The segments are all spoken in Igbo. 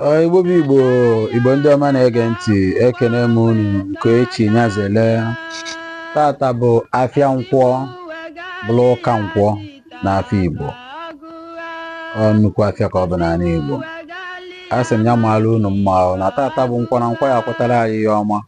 Ọ Igbo bụ Igbo Igbo ndị ọma na-ege ntị ekene m unu nke echi nyazele tata bụ afịa nkwọ bụrụ ụka nkwọ na afịa Igbo ọ nnukwu afịa ka ọ bụ n'anị Igbo a sị m ya maara unu mma ahụ na tata bụ nkwọ na nkwọ ya-akwọtara anyị ihe ọma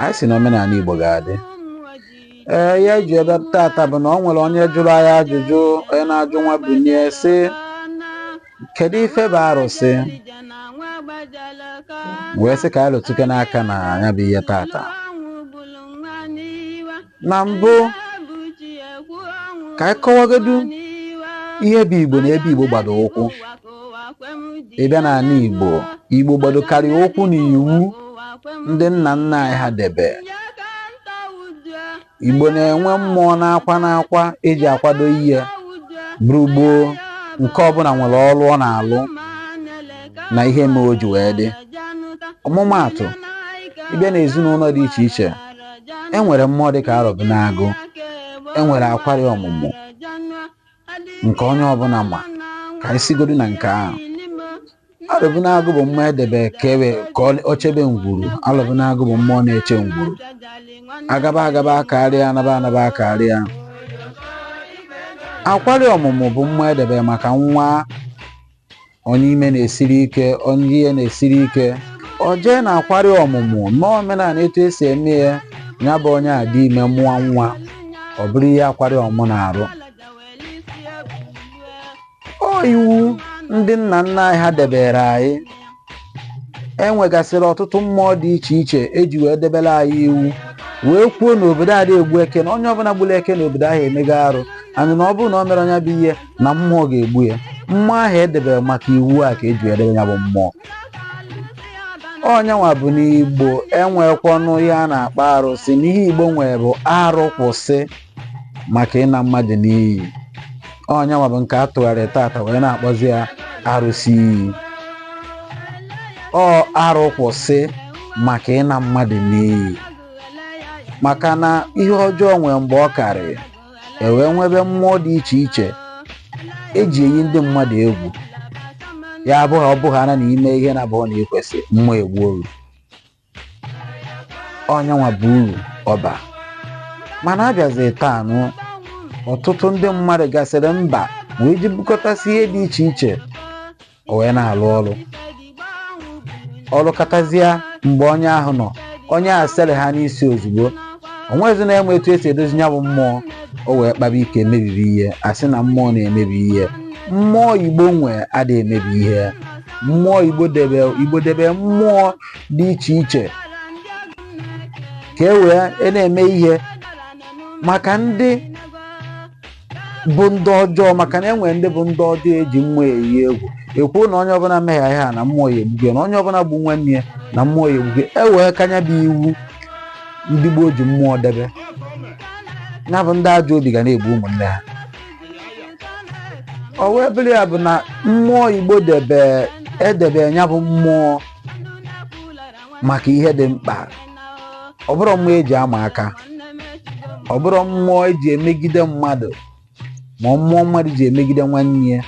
anyị sị na omenaanị Igbo ga-adị ee ihe anyị ji ebe tata bụ na o nwere onye jụrụ anyị ajụjụ onye na-ajụ Nwabunie sị kedu ife bụ arụsị wee sị ka anyị lụtụkene aka na nya bụ ihe tata na mbụ ka anyị kọwagodu ihe bụ igbo na ebe igbo gbado ụkwụ ị bịa n'anị igbo igbo gbadokarị ụkwụ na iwu ndị nna nna anyị ha debe igbo na-enwe mmụọ n'ọkwa n'ọkwa e ji akwado ihe bụrụ gboo nke ọbụna nwere ọrụ ọ na-alụ na ihe mere o ji wee dị ọmụmaatụ ị bịa n'ezinụnọ dị iche iche e nwere mmụọ dị ka arọbịnagụ e nwere akwari ọmụmụ nke onye ọbụna ma ka anyị sigodu na nke ahụ arọbịnagụ bụ mmụọ e debe ka ebe ka ọ- ọ chebe ngwuru arọbịnagụ bụ mmụọ na-eche ngwuru agaba agaba karịa anaba anaba karịa akwari ọmụmụ bụ mmụọ e debe maka nwa onye ime na-esiri ike onye ihe na-esiri ike o jee na akwari ọmụmụ mee omenaanị etu e si eme ya ya bụ onye adị ime mụọ nwa ọ bụrụ ihe akwari ọmụ na-arụ ọ iwu ndị nna nna anyị ha debere anyị e nwegasịrị ọtụtụ mmụọ dị iche iche e ji wee debere anyị iwu wee kwuo na obodo ada egbu eke na onye ọbụna gburu eke na obodo ahụ emego arụ anị na ọ bụrụ na o mere nya bụ ihe na mmụọ ga-egbu ya mmụọ ahụ e debere maka iwu a ka e ji edebe ya bụ mmụọ ọ nyanwa bụ na igbo enwekwanụ ihe a na-akpọ arụsị na ihe igbo nwere bụ arụ kwụsị maka ịna mmadụ n'iyi ọ nyanwa bụ nke a tụgharị tata wee na-akpọzi ya arụsị iyi ọ arụ kwụsị maka ịna mmadụ n'iyi maka na ihe ọjọọ nwere mgbe ọ karịrị e wee nwebe mmụọ dị iche iche e ji eyi ndị mmadụ egwu ya abụghị ọ bụghị ana na i mee ihe na-abụhọ na ikwesị mmụọ egbuo ghu ọ nyanwa bụ uru ọ ba mana a bịazi taa nụ ọtụtụ ndị mmadụ gasịrị mba wee jee bukọtasị ihe dị iche iche o wee na-alụ ọrụ ọ rụkatazịa mgbe onye ahụ nọ onye a sere ha n'isi ozugbo o nwezi onye ma etu esi edozi ya bụ mmụọ o wee kpaba ike mebibe ihe a sị na mmụọ na-emebi ihe mmụọ igbo nwe adịghị emebi ihe mmụọ igbo debe igbo debe mmụọ dị iche iche ka e wee na-eme ihe maka ndị bụ ndị ọjọọ maka na e nwere ndị bụ ndị ọjọọ eji mmụọ eyi egwu ekwuo na onye ọbụla mehie ihe a na mmụọ ya egbugo ya, na onye ọbụla gbuo nwanne ya na mmụọ ya egbugo ya. e wee kanya bụ iwu ndị gboo ji mmụọ debe ya bụ ndị ajọ obi ga na-egbu ụmụnne ha ọ wee bụrụ ya bụ na mmụọ igbo debe edebe ya bụ mmụọ maka ihe dị mkpa ọ bụrọ mmụọ eji ama aka ọ bụrọ mmụọ eji emegide mmadụ ma ọ mmụọ mmadụ ji emegide nwanne ya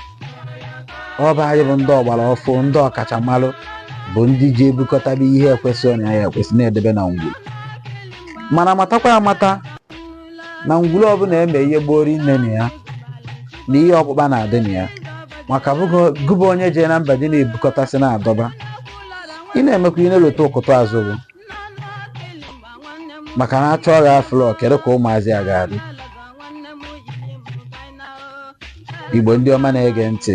ọ bụ anyị bụ ndị ọgbara ọfụụ ndị ọkachamara bụ ndị ji ebukọtaba ihe ekwensu ọnya ekwensu na-edebe na ngwuru mana matakwa amata na ngwuru ọbụla eme ihe gboori nne na ya na ihe ọkpụkpa na-adị na ya maka gụba onye jee na mba dị na-ebukọtasị na-adọba ị na-emekwa ị na-elota ụkụta azụ gị maka na achọọ gị afụlọ kedu ka ụmụazị a ga-adị igbo ndị ọma na-ege ntị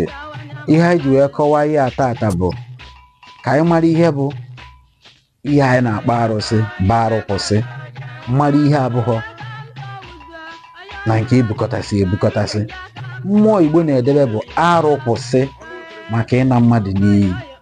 ihe anyị ji wee kọwaa ihe a tata bụ ka anyị mara ihe bụ ihe anyị na-akpọ arụsị bụ arụ kwụsị mara ihe abụghọ na nke ebukọtasị ebukọtasị mmụọ igbo na-edebe bụ arụ kwụsị maka ịna mmadụ n'iyi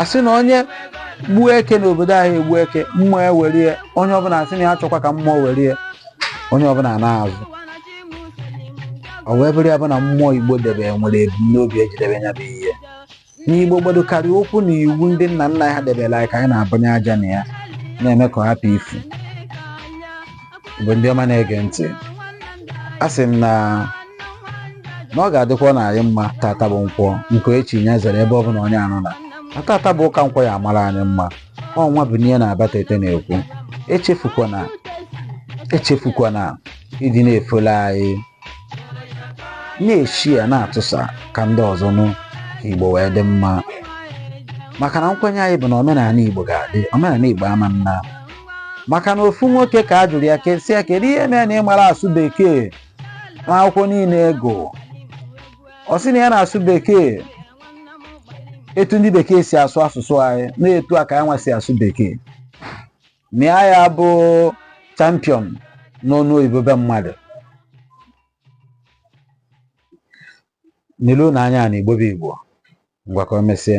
asị na onye gbuo eke n'obodo anaghị egbu eke mmụọ ewere ya onye ọbụla sị na ya achọghọ ka mmụọ were ya onye ọbụla naa azụ ọ wee bụrụ ya bụ na mmụọ igbo debe nwere ebumnobi eji debe ya bụ ihe n'igbo gbado karịa ụkwụ na iwu ndị nna nna ha debere anyị ka anyị na-ebunye aja na ya na-eme ka ọ hapụ ifu igbo ndị ọma na-ege ntị a sị m na na ọ ga-adịkwa na anyị mma tata bụ nkwọ nke echi ya zere ebe ọ bụla onye ahụ nọ na tata bụ ụka nkwọ ya amara anyị mma ọ nwabunia na abatete na-ekwu echefukwana echefukwana ịdị na-efollow anyị na-eshare na-atụsa ka ndị ọzọ nụ ka igbo wee dị mma maka na nkwenye anyị bụ na omenala igbo ga-adị omenala igbo ama naa maka na ofu nwoke ka a jụrụ okwu sị ya kedu ihe mere na ị marọ asụ bekee n'akwụkwọ niile ị gụ ọ sị na ya na-asụ bekee etu ndị bekee si asụ asụsụ anyị na etu a ka ya nwa si asụ bekee na ya ya bụ champion n'ọnụ oyibo be mmadụ n'ilu na anya na igbo bụ igbo ngwa ka o mesie